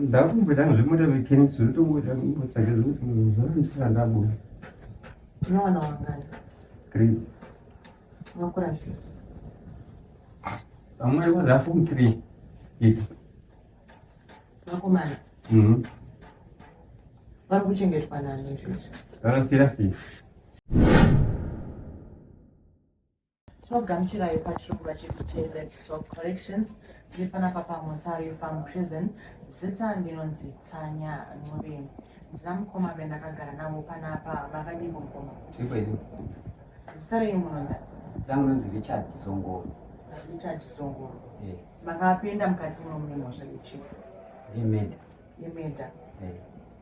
ndakumboita zvekuita mechanics zvotongoita kumbotsvaga zvekuti zvaandisaka ndabuda unowana wangani three wakura sei vamwe vazafom three iti vakomana mhm. vari kuchengetwa nani izvozvo vanosiyira sisi Togamuchirai pachirongwa chekuti Let's Talk Corrections tiri panapa paMutare Farm Prison. Zita ndinonzi Tanya Ncube. Ndina mukoma vendakagara navo panapa. Makadiko mukoma? Tiri kwedu. Zita renyu munonzi? Zangu nonzi Richard Zongoro. Richard Zongoro. Eh. Makapinda mukati muno mune mhosva yechipi? Yemeda. Yemeda. Eh.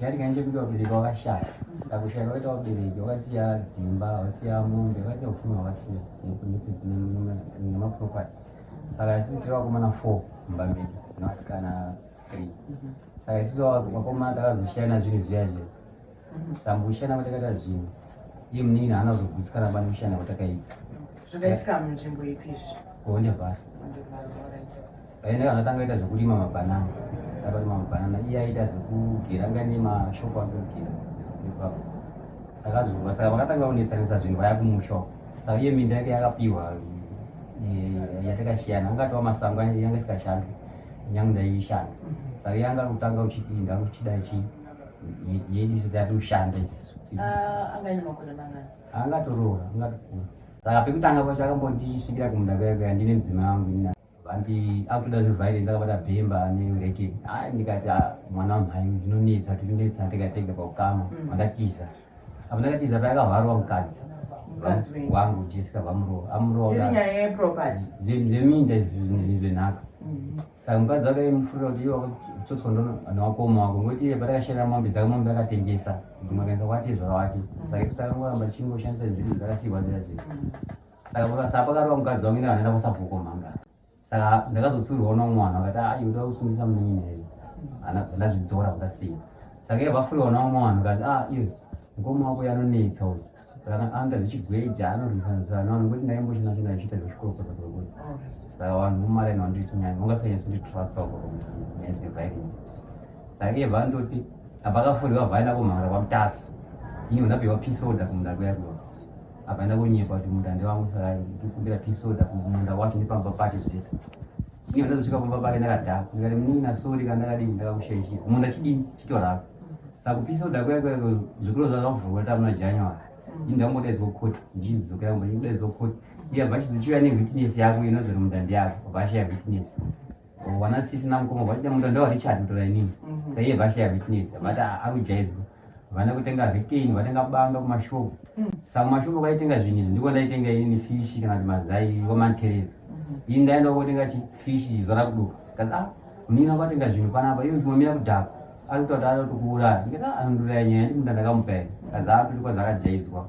Yari kanje kuti wabereki wakashaya saka kushaya kwaita wabereki wakasiya dzimba wakasiya mombe wakasiya upfumi hwakasiya nemaproperty saka sisi tiri vakomana four mumba medu nevasikana three mhm. saka sisi vakomana takazoshaya na zvinhu zviya zviya mhm. sambushana kwatakaita zvinhu iye munini haana kuzogutsikana bani kushana kwatakaita zvakaitika munzvimbo ipi izvi kuonde vhara Paenda kana tanga ita zvekurima mabanana takarima mabanana iye aita zvekugera anga ne mashop ake kugera ipapo saka zvoba saka vakatanga kunetsanisa zvinhu vaya kumusha uko saka iye minda yake yakapiwa eh, yatakashiyana angatova masango yanga isikashandi nyange ndaishanda saka yanga kutanga uchiti ndakuchida chi yedu isati yati ushanda isisu ah, angatoroora angatokura saka pekutanga kwacho akambondisvikira kumunda kuyakuyandine mudzimai wangu Vandi akutoda zve violence akabata bhemba ne reke. Ah ndikati ah mwana wamhai ndinonetsa tinonetsa tega tega pakukama mm. vandatiza. Apa ndakatiza paya akavharwa mukadzi. Wangu Jessica vamuro amuro. Iri nyaya ye property. Zveminda izvi zvenhaka. Mm-hmm. Saka mukadzi wake mufurira kuti iwe wakatsotswa ndono ana wakoma wako ngoti iye patakashera mombe dzake mombe akatengesa. Ndimakaisa kwati zvara wake. Mm. Saka itotakangu kuramba tichingoshandisa zvinhu zvakasiywa zvira zviri. Mm. saka saka pakarova mukadzi wangu ine vanoenda kusabhuko mhanga saka ndakazotsurirwa uno mwana akati a yoda kusungisa munyina iyo ndazvidzora kudasiya saka iye vafurirwa na umwe wanhu kazi a iyo mukoma wako yanonetsa uyu anoita zvichigweja anorwisanaano kuti ndaimbochina china ichiita zvechikorokozakokoza saka vanhu vomaraini vanditinyanya ungasanyatsinditrasa ukoaeviolence saka iye vandoti apakafurirwa vaenda kumhara kwamutaso ini undapiwa pisoda kumunda kuya kuya Akaenda konyepa kuti munda ndewangu saka ndikumbira tea soda kumunda wacho nepamba pake zvese. Inga ndazosvika pamba pake ndakadhaka ndikati munin'ina sorry kana ndakadini ndakakushaishira munda chidini chitorapa. Saka kupi soda kuya kuya zvikuru zvakavhurwa tamuna January. Ini ndakudaidzwa kukoti njizi dzokera kumba ndikudaidzwa kukoti. Iya bhashi dzichiuya newitness yako inonzi munda ndeyako bhashi ya witness. Wana sisi na mukoma vaida munda ndo Richard mutora inini. Mhm. Taiye vasha ya witness vati akujaizwa. Vana kutenga retain vatenga banga kuma shop. Mm. Some mashop vaitenga zvinyi ndiko ndaitenga inini fish kana mazai wa mantereza. Mhm. Ini ndaenda kotenga chi fish zvara kuduka. Kaza ah, munina kwatenga zvinhu panapa iwe zvimomira kudhaka. Ari kutoti ari kukuuraya. Ndikati ah, anonduraya nyaya ndi munda ndakamupa. Kaza ah, tiri kwazakajaidzwa.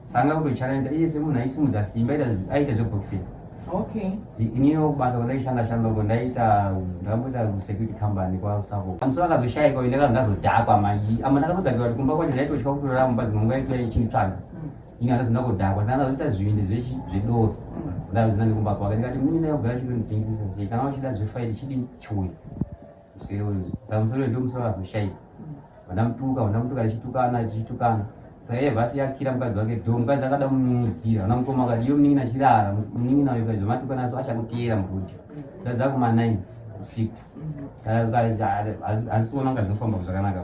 sanga kutochallenge iye semunhu aisimudza simba aita zveboxing okay iniyo basa kwandaishanda shanda uko ndaita ndakamboita security company kwausako amuso akazoshaika uyu ndakanga ndazodhakwa manje ama ndakazodhakiwa kuti kumba kwacho ndaitosvika kutorara mumba dzimwe nguva yaitova ichinditsvaga mm. ini handazina kudhakwa saka ndazoita zvivindi zvedoro mm. ndazina nekumba kwake ndikati mini ndayogara chitondidzingisisa sei kana wachida zvefaili chidi chiuya Muswere uyu saka muswere uyu ndomuswere wazoshaika vanamutuka vanamutuka achitukana achitukana saka vasi yakira mukadzi wake do mukadzi akada kumunyudzira ana mukoma akati iyo munin'ina achirara munin'ina uyu kaizva matukana aso achakuteera mukudya dzadza kuma nine usiku handisiona kunga zvinofamba zvakanaka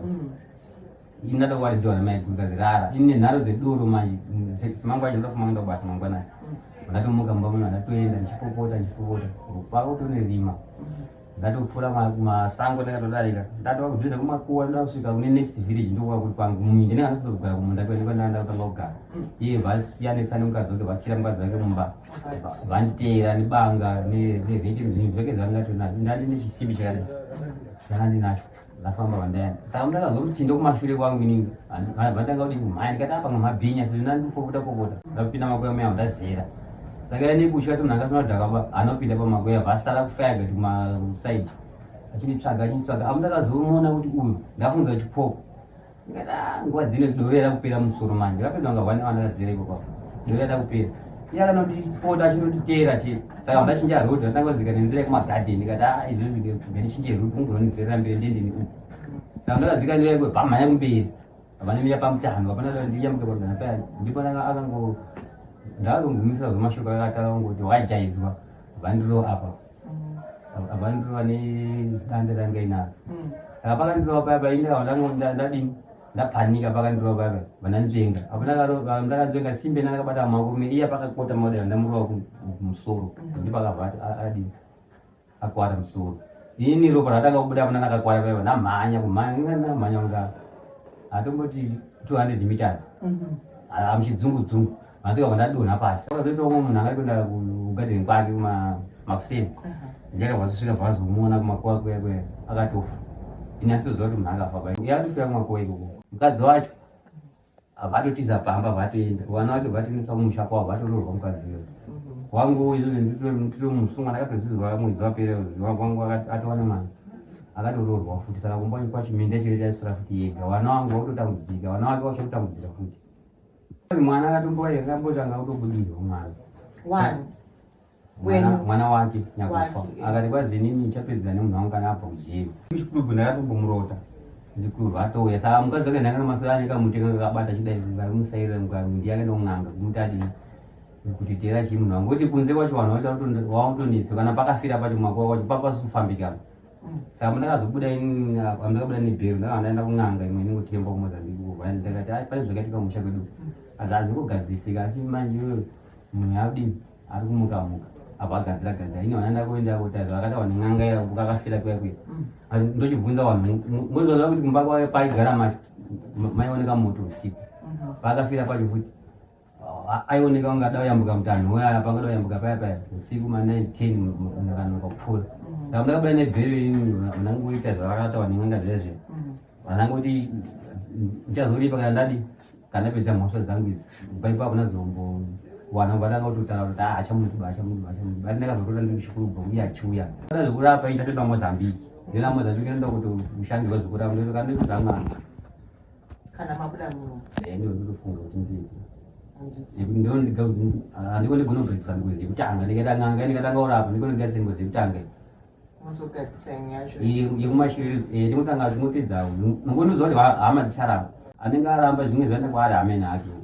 Ini ndatokwaridziwa namai kunzi rara. Ini nenharo dzedoro manje semangwana acho ndofuma kuenda kubasa mangwanani. Ndatomuka mumba muno ndatoenda ndichipopota ndichipopota. Kwava kutone rima. Ndatopfura masango ndakatodarika. Ndatova kuzviza kumakuwa ndasvika kune next village ndokuva kuti kwangu mumwe ndine anasisa kugara kumunda kwedu kwandaenda kutanga kugara. Iye vasiyanisa nemukadzi wake vakira mukadzi wake mumba. Vanditeera nebanga nevheke zvinhu zvake zvandatinazvo. Ndandine chisimbi chakadai. Ndandinacho. ndafamba vandayana saka ndakazwa mutsindo kumashure kwangu inini vatanga kuti kumhaya ndikati apa ngamabhinya sezvo ndandipopota popota ndakupinda makoya muya ndazera saka ya nekutya semunhu akafana kuti akaba anopinda pamakoya vasara kufayaga kuti kumasaidi achinitsvaga achinitsvaga apo ndakazomuona kuti uyu ndafunza kuti pop nguva dzino doro yada kupera musoro manje vapedza kunga vane vana vadzere ipo papo doro yada kupera iye akanotipota achinotiteera che saka ndachinja road ndatanga kuzika nenzira yekumagadheni ndikati a ah, izvozvigandichinje road kungononizerera mberi ndendini uku saka ndakazika ndira yekwe bhama yangu mberi vanemira pamutano vapana ndiyambuke pamutano paya ndipo akango ndakazongumisira zvemashoko akataura kungoti wajaidzwa vandiro apa apa ndiri vane zita ndiranga inaro mm. saka pakandirova paya paindira vandadini ndapanika pakandirova paya vandanzvenga apo ndakanzvenga simbe ndakabata makurume iya pakakota maoda vandamurova kumusoro mm. ndipakabva adini akwara musoro ini ropa ratanga kubuda apo ndandakakwara paya ndamhanya kumhanya ndamhanya kunga hatomboti 200 meters mm-hmm. amuchidzungudzungu Masvika kwandadonha pasi saka zvoitawo kumwe munhu akari kuenda kugadheni kwake makuseni ndichakabva zosvika bvazomuona kumakuwa kuya kuya akatofa ini asitoziva kuti munhu akafa pa yakatofira kumakuwa ikoko mukadzi wacho vatotiza pamba vatoenda vana vacho vatoendesa kumusha kwavo vatoroorwa mukadzi uyo wangu nditiri musungwa ndakatozizwa mwedzi wapera wangu atowana mwana akatoroorwa futi saka kumba kwacho minda chiro chaisora futi yega vana wangu vakutotambudzika vana wake vachototambudzika futi Mwana akatombowa here akambotanga kutobudidza mwana. Wani? mwana wake nyakufa akati kwazinini ndichapedzera nemunhu wangu kana abva kujeri chikulubu ndakatombomurota zikulubu atouya saka mukadzi wake ndanga namasoya ane kamuteka kakabata chidai varimusairira mukamu ndiye akaenda kun'anga kumuti adini kuti tera chii munhu wangu kuti kunze kwacho vanhu vachakutonetsa kana pakafira pacho mwako kwacho papasufambikana saka mundakazobuda ini amndakabuda nebhero ndaka ndaenda kun'anga imwe inongotemba kumozambique kuva ndakati ai pane zvakaitika musha kwedu asi hazviri kugadzisika asi manje iyoyo munhu yaudi ari kumuka muka apa agadzira gadzira ini vana ndakuenda kutari vakatawa nen'anga ya kukakafira kuya kuya asi ndochibvunza vanhu mozivaziva kuti kumba kwayo paigara mai vaoneka moto usiku paakafira pacho futi aioneka kunge ada kuyambuka mutanho uyaya panga da kuyambuka paya paya usiku ma 9 10 ndakanoka kupfuura mm. saka ndakabuda nebhero ini vanangoita zvavakataura nen'anga zvezve mm. vanangoti ndichazoripa kana ndadi kana pedza mhosva dzangu idzi paipo hakuna zombowana vandanga kutotaura kuti ah, achamuduba achamuduba achamuduba asi ndakazorota ndiri kuchikurubva uye achiuya kana zvekurapa itatenda mozambiki ndinamozambiki ndoda kuti ushandirwa zvekurapa ndotokandokutamwana kana mabuda muno eh, ndiko ndikufunga kuti nditi ndiko ndiga ah, ndiko ndigona kugadzisa nguzi yekutanga ndikatanga nga ndikatanga urapa ndiko ndigadzisa nguzi yekutanga yekumashure eh, ndikutanga zvinopedza nongonoziva kuti hama dzicharamba anenge aramba zvimwe zvaenda kwaari amene acho